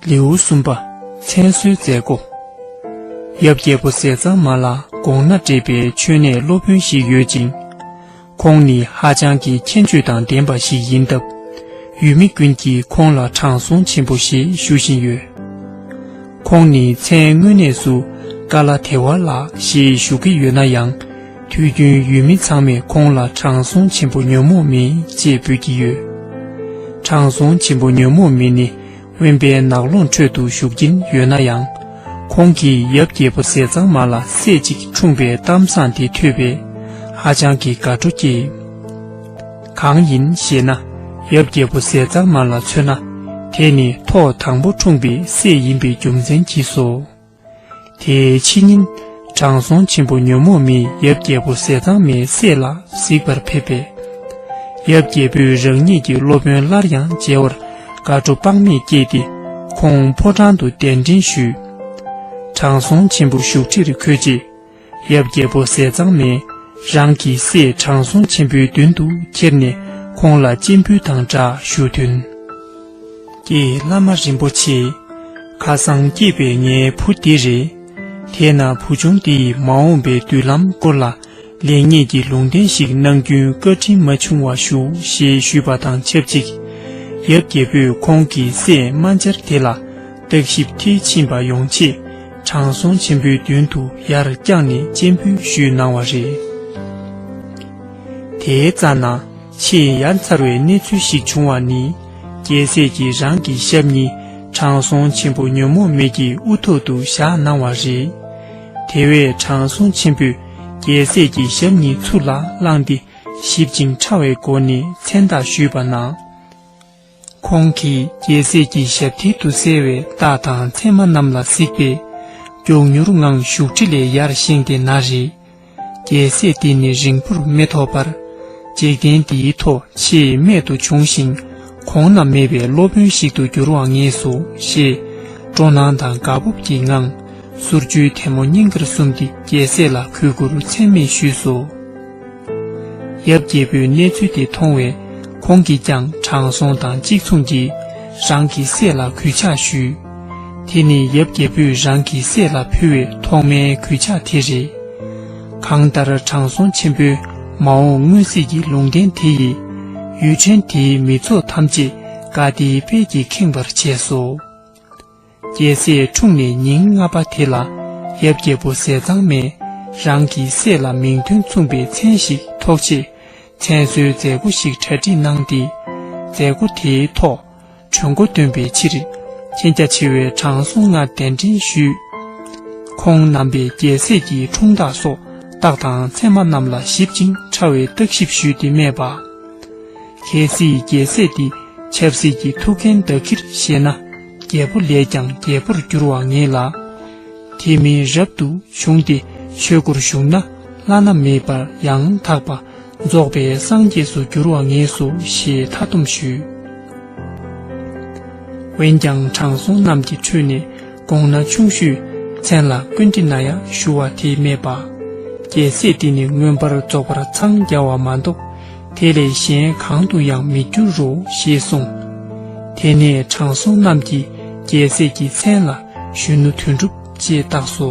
ལེའུ་གསུམ་པ་མཚན་གསོལ་མཛད་སྒོ་ཡབ་རྒྱལ་པོ་ཟས་གཙང་མ་ལ་དགོངས་ན་འདྲེས་པའི་མཆོད་གནས་སློབ་དཔོན་ཞིག་ཡོད་ཅིང། ཁོང་ནི་ཧ་ཅང་གི་མཁྱེན་དཔྱོད་དང་ལྡན་པ་ཞིག་ཡིན་སྟབས། ཡུལ་མི་ཀུན་གྱིས་ཁོང་ལ་དྲང་སྲོང་ཆེན་པོ་ཞེས་ཞུ་བཞིན་ཡོད། ཁོང་ནི་མཚན་དངོས་གནས་སུ་ཀ་ལ་དེ་ཝ་ལགས་ཞེས་བཞུགས་ཀྱི་ཡོད་ན་ཡང། དུས་རྒྱུན་ཡུལ་མི་ཚང་མས་ཁོང་ལ་དྲང་སྲོང་ཆེན་པོ་ཉོན་མོངས་མི་ཅེས་འབོད་ཀྱི་ཡོད། དྲང་སྲོང་ཆེན་པོ་ཉོན་མོངས་མི་ནི་དབེན་པའི་ནགས་ཀློང་ཁྲོད་དུ་བཞུགས་ཀྱིན་ཡོད་ན་ཡང། ཁོང་གིས་ཡབ་རྒྱལ་པོ་ཟས་གཙང་མ་ལ་སྲས་གཅིག་འཁྲུངས་པའི་གཏམ་བཟང་དེ་ཐོས་པས་ཧ་ཅང་གི་དགའ་སྤྲོ་སྐྱེས། གང་ཡིན་ཞེ་ན། ཡབ་རྒྱལ་པོ་ཟས་གཙང་མ་ལ་མཚོན་ན། དེ་ནི་ཐོག་དང་པོ་འཁྲུངས་པའི་སྲས་ཡིན་པའི་རྒྱུ་མཚན་གྱིས་སོ། དེའི་ཕྱི་ཉིན། དྲང་སྲོང་ཆེན་པོ་ཉོན་མོངས་མིས་ཡབ་རྒྱལ་པོ་ཟས་གཙང་མའི་སྲས་ལ་གཟིགས་པར་ཕེབས་པས། ཡབ་རྒྱལ་པོས་རང་ཉིད་ཀྱི་སློབ་དཔོན་སླར་ཡང་མཇལ་བར་དགའ་སྤྲོ་དཔག་མེད་སྐྱེས་ཏེ་ཁོང་ཕོ་བྲང་དུ་གདན་འདྲེན་ཞུས། དྲང་སྲོང་ཆེན་པོ་བཞུགས་ཁྲིར་འཁོད་རྗེས། ཡབ་རྒྱལ་པོ་ཟས་གཙང་མས་རང་གི་སྲས་དྲང་སྲོང་ཆེན་པོའི་མདུན་དུ་ཁྱེར་ནས་ཁོང་ལ་སྤྱན་འབུལ་དང་སྦྲགས་ཞུ་མཐུན། ཀྱེ་བླ་མ་རིན་པོ་ཆེ། ཁ་སང་སྐྱེས་པའི་ངའི་བུ་འདི་རེད། དེས་ན་བུ་ཆུང་འདི་ཡི་མ་འོངས་པའི་མདུན་ལམ་སྐོར་ལ་ལེགས་ཉེས་ཀྱི་ལུང་བསྟན་ཞིག་གནང་རྒྱུན་བཀའ་དྲིན་མ་ཆུང་བ་ཞུ་ཞེས་ཞུས་པ་དང་ཆབས་ཅིག་ཡབ་རྒྱལ་པོས་ཁོང་གི་སྲས་རྨ་འབྱར་དེ་ལ་བརྟག་ཞིབ་མཐིལ་ཕྱིན་པ་ཡོང་ཆེད། དྲང་སྲོང་ཆེན་པོའི་མདུན་དུ་ཡར་བརྐྱངས་ནས་སྤྱན་འབུལ་ཞུས་གནང་བ་རེད། དེའི་རྩ་ན་ཆེས་ཡ་མཚར་བའི་གནས་ཚུལ་ཞིག་བྱུང་བ་ནི། རྒྱལ་སྲས་ཀྱིས་རང་གི་ཞབས་གཉིས་དྲང་སྲོང་ཆེན་པོ་ཉོན་མོངས་མེད་ཀྱི་དབུ་ཐོག་ཏུ་བཞག་གནང་བ་རེད། དེ་བས་དྲང་སྲོང་ཆེན་པོས་རྒྱལ་སྲས་ཀྱི་ཞབས་གཉིས་ཚུར་ལ་བླངས་ཏེ་གཞིབ་ཅིང་ཕྲ་བའི་སྒོ་ནས་མཚན་རྟགས་ཞུས་པ་ན། ཁོང་གིས་རྒྱལ་སྲས་ཀྱི་ཞབས་མཐིལ་དུ་གསལ་བའི་རྟགས་དང་མཚན་མ་རྣམས་ལ་གཟིགས་པས། མགྱོགས་མྱུར་ངང་བཞུགས་ཁྲི་ལས་ཡར་བཞེངས་ཏེ་ན་རེ། རྒྱལ་སྲས་འདི་ནི་རིང་པོར་མི་ཐོགས་པར། འཇིག་རྟེན་འདིའི་ཐོག་ཆེས་རྨད་དུ་བྱུང་ཞིང་གོང་ན་མེད་པའི་སློབ་དཔོན་ཞིག་ཏུ་འགྱུར་བར་ངེས་སོ་ཞེས། སྤྲོ་སྣང་དང་དགའ་སྤོབས་ཀྱི་ངང། གསུར་བཅུའི་ཐལ་མོ་སྙིང་གར་བཟུང་སྟེ་རྒྱལ་སྲས་ལ་གུས་བཀུར་ཚད་མེད་ཞུས་སོ། ཡབ་རྒྱལ་པོས་གནས་ཚུལ་དེ་མཐོང་བས་ཁོང་གིས་ཀྱང་དྲང་སྲོང་དང་གཅིག་མཚུངས་ཀྱིས་རང་གི་སྲས་ལ་གུས་ཕྱག་ཞུས། དེ་ནི་ཡབ་རྒྱལ་པོས་རང་གི་སྲས་ལ་ཕུལ་བའི་ཐོག་མའི་གུས་ཕྱག་དེ་རེད། གང་ལྟར་དྲང་སྲོང་ཆེན་པོས་མ་འོངས་སྔོན་གཟིགས་ཀྱི་ལུང་བསྟན་དེ་ཡིས་ཡུལ་ཕྲན་དེའི་མི་ཚོགས་ཐམས་ཅད་དགའ་བདེའི་དཔལ་གྱིས་ཁེངས་པར་བྱས་སོ། རྒྱལ་སྲས་འཁྲུངས་ནས་ཉིན་ལྔ་པ་དེ་ལ་ཡབ་རྒྱལ་པོ་ཟས་གཙང་མས་རང་གི་སྲས་ལ་མིང་དོན་མཚུངས་པའི་མཚན་ཞིག་ཐོགས་ཆེད་མཚན་གསོལ་མཛད་སྒོ་ཞིག་གྲ་སྒྲིག་གནང་སྟེ། མཛད་སྒོ་དེའི་ཐོག་གྲོས་མགོ་འདོན་པའི་ཕྱིར་མཁྱེན་རྒྱ་ཆེ་བའི་དྲང་སྲོང་ལྔ་གདན་འདྲེན་ཞུས། ཁོང་རྣམ་པས་རྒྱལ་སྲས་ཀྱི་འཁྲུངས་རྟགས་སོགས་རྟགས་དང་མཚན་མ་རྣམས་ལ་ཞིབ་ཅིང་ཕྲ་བའི་བརྟག་ཞིབ་ཞུས་ཏེ་སྨྲས་པ། གལ་སྲིད་རྒྱལ་སྲས་འདི་ཆབ་སྲིད་ཀྱི་ཐུགས་འགན་བདག་གིར་བཞེས་ན། རྒྱལ་པོ་ལས་ཀྱང་རྒྱལ་པོར་འགྱུར་བར་ངེས་ལ། དེ་མིན་རབ་ཏུ་བྱུང་སྟེ་ཆོས་སྒོར་ཞུགས་ན་བླ་ན་མེད་པར་ཡང་དག་པ་རྫོགས་པའི་སངས་རྒྱས་སུ་འགྱུར་བར་ངེས་སོ་ཞེས་མཐའ་བསྡོམས་ཞུས། འོན་ཀྱང་དྲང་སྲོང་རྣམས་ཀྱི་ཁྲོད་ནས་དགོངས་ན་ཆུང་ཤོས་མཚན་ལ་ཀུན་དྲི་ན་ཡང་ཞུ་བ་དེས་སྨྲས་པ། རྒྱལ་སྲས་འདི་ནི་མངོན་པར་རྫོགས་པར་འཚང་རྒྱ་བ་མ་གཏོགས། དེ་ལས་གཞན་གང་དུ་ཡང་མི་འགྱུར་རོ་ཞེས་གསུངས། དེ་ནས་དྲང་སྲོང་རྣམས་ཀྱིས་རྒྱལ་སྲས་ཀྱི་མཚན་ལ་གཞོན་ནུ་དོན་གྲུབ་ཅེས་བཏགས་སོ།